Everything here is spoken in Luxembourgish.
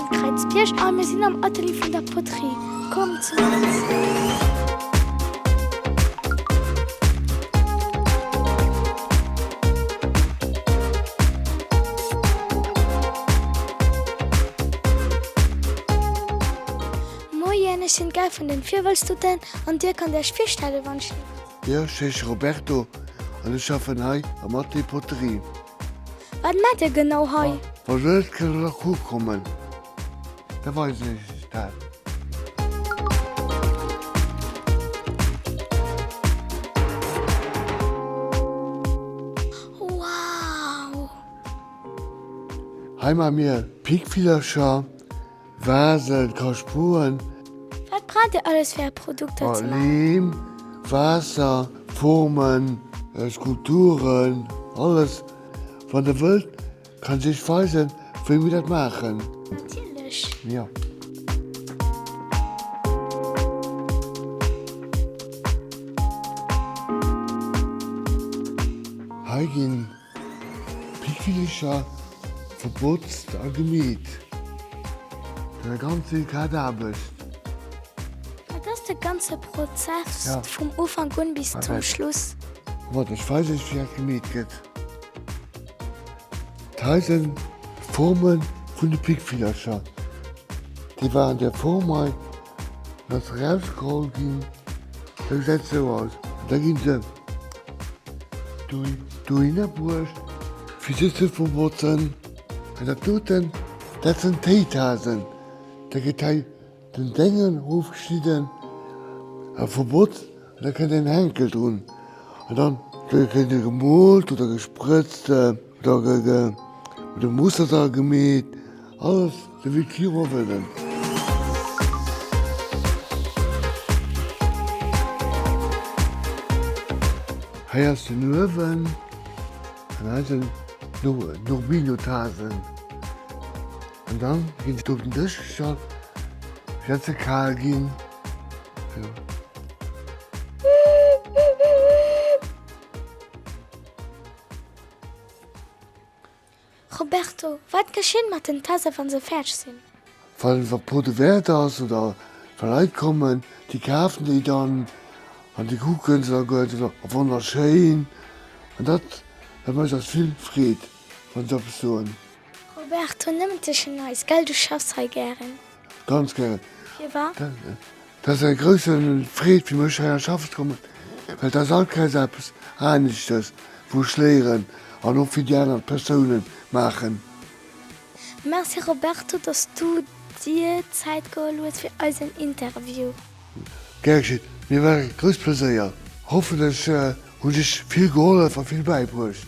Kräizbierg a mir sinn am Atelier vun der Poterie. Kommt zu eis! Moien, ech sinn d'Gare vun den Virwëlztuten an dir kannt iech virstellen, wann ech. Jo, ech heesche Roberto an ech schaffen hei am Atelier Poterie. Wat maat dir genau hei? Wann se net kënnen aku kommen, da weisen ech iech dat. Wow! Hei man mir Pickvillercher. Waasser, Kaschpoen. Wat braucht dir alles fir är Produkter ze maachen? Leem, Waasser, Formen, Skulpturen, alles. Wann der wëllt kann ech iech weisen wéi mir dat maachen. Natierlech. Jo. Hei ginn D'Kicher verpotzt a gemeet. Dat ass ganz vill grad Aarbecht. Dat ass de ganze Prozess, vum Ufank un bis zum Schluss. Wat ech weis ass wéi dat gemeet gëtt. Hei sinn d'Forme vun de Pickvillercher. Déi waren an där Form hei. Ass rausgeholl ginn, da gesäit sou aus. Da ginn se dohinner bruecht fir se ze verbotzen. An dat doten, dat sinn d'Héichasen. Da gëtt hei den Déngel ofgeschnidden a verbotzt. Da kënnt en Henkel drun an dann gëtt e gemoolt oder gesprëtzt, da gëtt e mat dem Musterter gemeet, alles sou wéi d'Virun wëllen. Hei ass den Uewen an hei sinn d'Urbinotasen. An dann ginn se op den Dësch gestallt fir datt se kal ginn. Roberto, wat geschéit mat den Tasse wann se fäerdeg sinn? Wann e Pot de Verte ass oder wa Leit kommen, déi kafen déi dann an déi kucken se a goen se wonnerschéin. An dat mécht eis vill Freed wann se eppes soen. Roberto, Nëmmen tëschent eis, gell? Du schaffs hei gären? Ganz gären. Firwat? Dat ass eng grouss Freed fir mech, heiher schaffen ze kommen, well et ass all Keis eppes aneschtes, wou ech léieren an och fir déi aner Persounen maachen. Merci, Roberto, dass du dir Zäit geholl hues fir eisen Interview. Gär geschit, mir war e grouss Pleséier. Hoffen ech hunn dech vill gehollef a vill bäibruecht.